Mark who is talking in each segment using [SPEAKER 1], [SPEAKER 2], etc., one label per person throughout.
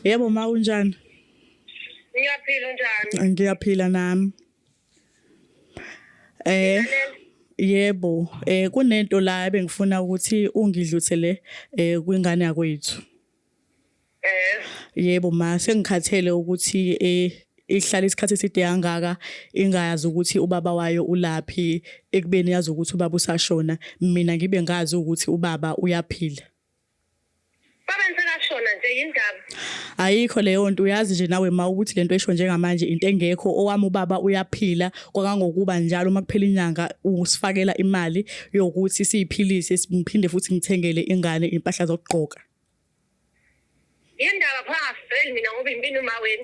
[SPEAKER 1] Yebo ma unjani?
[SPEAKER 2] Ngiyaphila unjani? Ngiyaphila nami. Eh yebo
[SPEAKER 1] eh kunento la ebengifuna ukuthi ungidluthele eh kwingane yakwethu. Eh yebo ma sengikhathele ukuthi eh ihlala isikhathi eside kangaka ingayazi ukuthi ubaba wayo ulaphi ekubeni yazi ukuthi ubaba usashona mina ngibe ngazi ukuthi ubaba uyaphila
[SPEAKER 2] Baba ngisakashona nje yindaba. Ayikho leyo
[SPEAKER 1] nto uyazi nje nawe ma ukuthi lento esho njengamanje into engekho owami ubaba uyaphila kwakangokuba njalo uma kuphela inyanga usifakela imali yokuthi siyiphilise simphinde futhi ngithengele ingane impahla zokugqoka.
[SPEAKER 2] Yindaba pha ngafeli mina ngoba impini uma wena.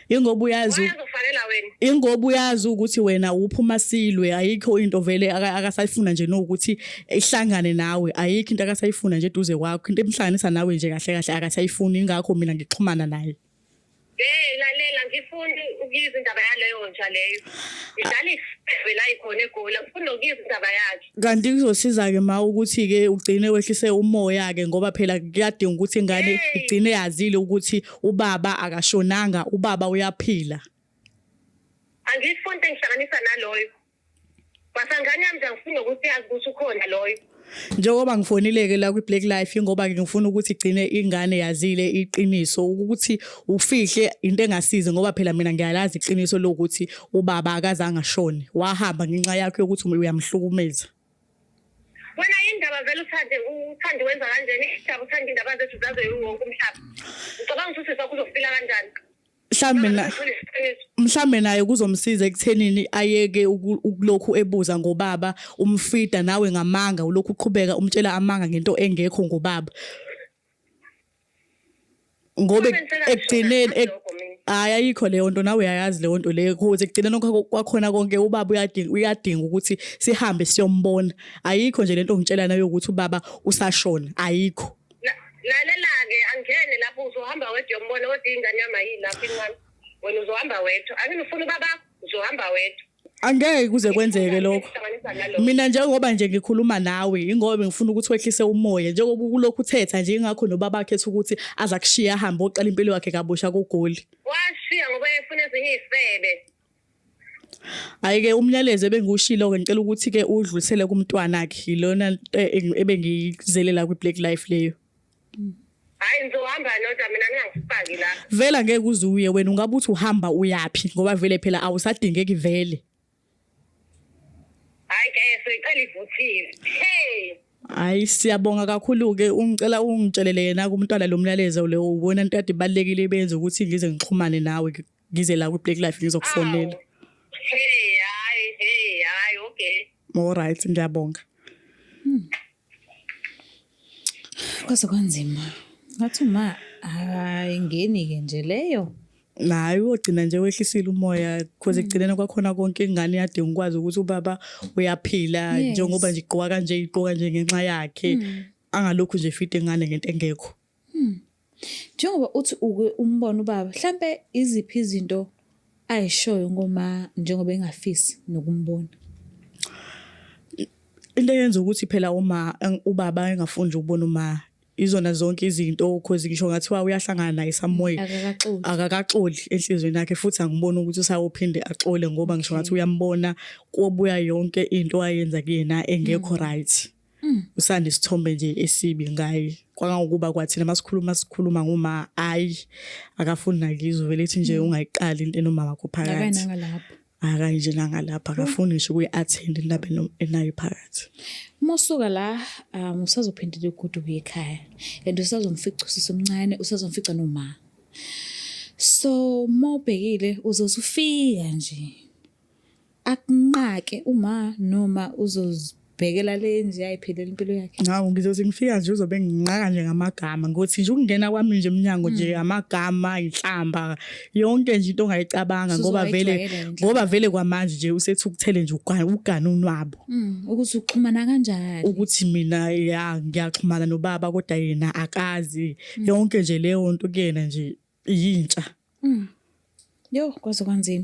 [SPEAKER 2] Ingoba uyazi
[SPEAKER 1] uyazofanela wena.
[SPEAKER 2] Ingoba uyazi
[SPEAKER 1] ukuthi wena uphuma silwe ayikho into vele akasayifuna nje nokuthi ihlangane nawe ayikho into akasayifuna nje duze kwakho into emhlanganisa nawe nje kahle kahle akasayifuni ingakho mina ngixhumana naye. Hey
[SPEAKER 2] lalela ngifuni ukuyizindaba yaleyo nja leyo. Ngidlala ife la ikhona egoli ngifuna ukuyizindaba yakhe. Kanti kuzosiza-ke
[SPEAKER 1] ma ukuthi-ke ugcine wehlise umoya-ke ngoba phela kuyadinga ukuthi ingane igcine yazile ukuthi ubaba akashonanga, ubaba uyaphila. Angifuni
[SPEAKER 2] into engihlanganisa naloyo. Basangane yami nje angifuni nokuthi yazi ukuthi ukhona loyo. Njengoba
[SPEAKER 1] ngifonile-ke la kwi-Black Life ingoba-ke ngifuna ukuthi igcine ingane yazile iqiniso ukuthi ufihle into engasizi ngoba phela mina ngiyalazi iqiniso lokuthi ubaba akazange ashone wahamba ngenxa yakho yokuthi uyamhlukumeza
[SPEAKER 2] wena indaba vele uthande uthande wenza kanjani indaba uthanda indaba zethu zaze wonke umhlaba ngicabanga ukuthi usisi wakho uzofila kanjani mhlambe
[SPEAKER 1] na mhlambe naye kuzomsiza ekuthenini ayeke ukulokhu ebuza ngobaba umfida nawe ngamanga ulokhu uqhubeka umtshela amanga ngento engekho ngobaba ngoba ekugcineni hayi ayikho leyo nto nawe uyayazi leyo nto leyo kuze ekugcineni kwakhona konke ubaba uyadinga uyadinga ukuthi sihambe siyombona ayikho nje lento ngitshela nayo ukuthi ubaba usashona ayikho lalela
[SPEAKER 2] ke angene lapho uzohamba wedwa yombona kodwa ingane yami ayilapho incane wena uzohamba wedwa angifuni ubaba uzohamba wedwa angeke kuze
[SPEAKER 1] kwenzeke lokho mina njengoba nje ngikhuluma nawe ingoba bengifuna ukuthi wehlise umoya njengoba ukulokhu uthetha nje ingakho nobaba wakhe ethi ukuthi aza kushiya ahambe oqala impilo yakhe kabusha kogoli washiya ngoba
[SPEAKER 2] efuna ezinye izifebe
[SPEAKER 1] Ayike umyalezo ebengiwushilo ke ngicela ukuthi ke udlulisele kumntwana wakhe ilona eh, ebengizelela kwi black life leyo.
[SPEAKER 2] hayi ngizohamba noda mina ningangifaki la vela ngeke uze uye
[SPEAKER 1] wena ungabe uthi uhamba uyaphi ngoba vele phela awusadingeki vele hayi
[SPEAKER 2] ke soyicela ivuthiwe hey Hayi siyabonga
[SPEAKER 1] kakhulu ke ungicela ungitshelele yena kumntwana lomlaleze leyo ubona into kade ibalekile ibenze ukuthi ngize ngixhumane nawe ngize la kwi-black life ngizokufonela hey hayi
[SPEAKER 2] hey hayi okay alright
[SPEAKER 1] ngiyabonga
[SPEAKER 3] hmm. kwaze kwanzima ngathi ma ayingeni-ke nje leyo naye uyogcina
[SPEAKER 1] nje wehlisile umoya because mm. ekugcineni kwakhona konke ingane yadinga ukwazi ukuthi ubaba uyaphila njengoba nje igqoka kanje igqoka nje ngenxa yakhe mm. angalokhu nje fide ingane ngento engekho Hmm.
[SPEAKER 3] Njengoba uthi uke umbona ubaba, mhlampe iziphi izinto ayishoyo ngoma njengoba engafisi nokumbona?
[SPEAKER 1] Into eyenza ukuthi phela uma ubaba engafuni ukubona uma izona zonke izinto cause ngisho ngathiwa uyahlangana naye samoya akakaxoli enhlizweni yakhe futhi angiboni ukuthi usayophinde axole ngoba ngisho ngathi uyambona kobuya yonke into ayenza kuyena engekho mm. right Mm. usanda isithombe nje esibi ngaye kwangangokuba kwathina masikhuluma sikhuluma ngoma ayi akafuni nakizwe vele ethi nje mm. ungayiqali into enomama wakho phakathi akanje nangalapha mm. akafuni ngisho kuyi-attend indaba enayo phakathi uma usuka la
[SPEAKER 3] um usazophindela ugudu kuye ekhaya and usazomfica usisi omncane usazomfica noma so uma ubhekile uze usufika nje akunqake uma noma uzozibhekela le nje ayiphelele impilo yakhe Ngawu ngizothi ngifika
[SPEAKER 1] nje uzobe nginqaka nje ngamagama ngothi nje ukungena kwami nje emnyango nje hmm. amagama inhlamba yonke nje into ongayicabanga ngoba vele ngoba vele kwamanje nje usethukuthele nje ugana ugana unwabo hmm, ukuthi uxhumana
[SPEAKER 3] kanjani ukuthi mina
[SPEAKER 1] ya ngiyaxhumana nobaba kodwa yena akazi hmm. yonke nje leyo nto kuyena
[SPEAKER 3] nje
[SPEAKER 1] yintsha yo
[SPEAKER 3] kwaze
[SPEAKER 1] kwanzima